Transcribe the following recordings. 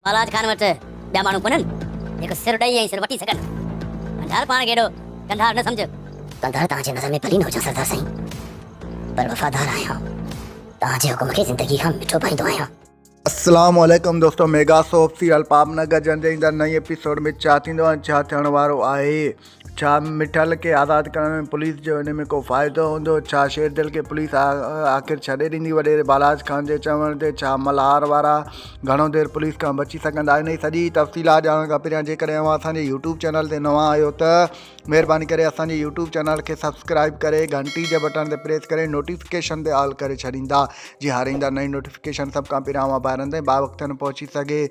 بالاچ خان وٽ ٻيا ماڻهو ڪونهن، جيڪو سر ڏئي ۽ سر وٺي سگهن. ڪنڌار پاڻ کي ايڏو ڪنڌار نه سمجهه. ڪنڌار توهان جي نظر ۾ ڀلي نه هجان سردار سائين، پر وفادار آهيان. توهان جي حڪم کي زندگي کان مٺو ڀائيندو آهيان. السلام عليڪم دوستو ميگا سوپ سيريل پاپ نگر جنجهه ايندڙ نئين ايپيسوڊ ۾ ڇا ٿيندو ۽ ڇا ٿيڻ وارو آهي ڇا مٺل کي آزاد ڪرڻ ۾ پوليس جو ان ۾ ڪو فائدو هوندو ڇا شيردل کي پوليس آخر ڇڏي ڏيندي وڏيري بالاچ خان جي چوڻ تي ڇا ملهار وارا گهڻو دير پوليس کان بچي سگهندا ان جي سڄي تفصيلات ڄاڻڻ کان پهريان جيڪڏهن اوهان اسان جي يوٽيوب چينل تي نوان آهيو ته مهرباني ڪري اسان جي يوٽيوب چينل کي سبسڪرائب ڪري گهنٽي جي بٽڻ تي پريس ڪري نوٽيفڪيشن تي آل ڪري ڇڏيندا جي هر ايندا نئين نوٽيفڪيشن سڀ کان پهريان اوهان ڀائرن تائين با وقتن پهچي سگهي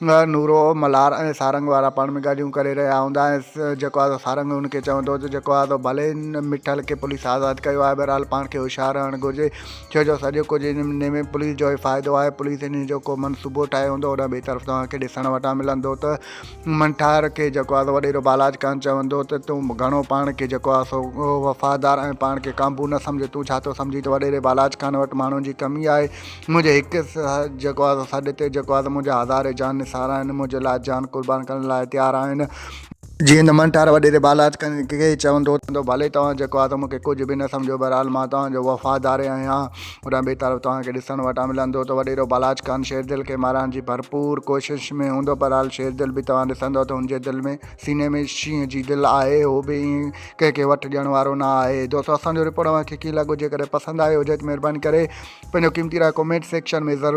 نورو، ملهار ۽ سارنگ وارا پاڻ ۾ ڳالهيون ڪري رهيا هوندا ۽ جيڪو آهي سو سارنگ هن کي چوندو ته جيڪو آهي سو ڀلي هن مٺل کي پوليس آزاد ڪيو آهي بهرحال پاڻ کي هوشيار رهڻ گهرجي ڇو جو سڄو ڪجهه هن مھني ۾ پوليس جو ئي فائدو آهي پوليس انهي جو ڪو منصوبو ٺاهي هوندو هوڏانهن ٻئي طرف توهان کي ڏسڻ وٽان ملندو ته مٺار کي جيڪو آهي سو وڏيرو بالاچ خان چوندو ته تون گهڻو پاڻ کي جيڪو آهي سو وفادار ۽ پاڻ کي قابو نه سمجهه تون ڇا ٿو سمجهين ته وڏيري بالاچ خان وٽ ماڻهن جي ڪمي آهي منهنجي هڪ جيڪو آ سا سڏ تي جيڪو آ سا منهنجا هزارين جان نثار آهن منهنجي لاء جان قربان ڪرڻ لاء تيار آهن. جيئن ته من ٽار وڏيري بالاچ ڪنهن کي چوندو ته ڀلي توهان جيڪو آ سا مون کي ڪجهه به نه سمجهو بهرحال مان توهان جو وفاداري آهيان هوڏانهن ٻي طرف توهان کي ڏسڻ وٽان ملندو ته وڏيرو بالاچ خان شيردل کي مارڻ جي ڀرپور ڪوشش ۾ هوندو بهرحال شيردل به توهان ڏسندو ته هن جي دل ۾ سيني ۾ شينهن جي دل آهي هو به ائين ڪنهن کي وٺ ڏيڻ وارو نه آهي دوستو اسان جو رپورٽ اوهان کي ڪيئن لڳو جيڪڏهن پسند آيو هجي ته مهرباني ڪري پنهنجو قيمتي راء ڪمينٽ سيڪشن ۾ ضرور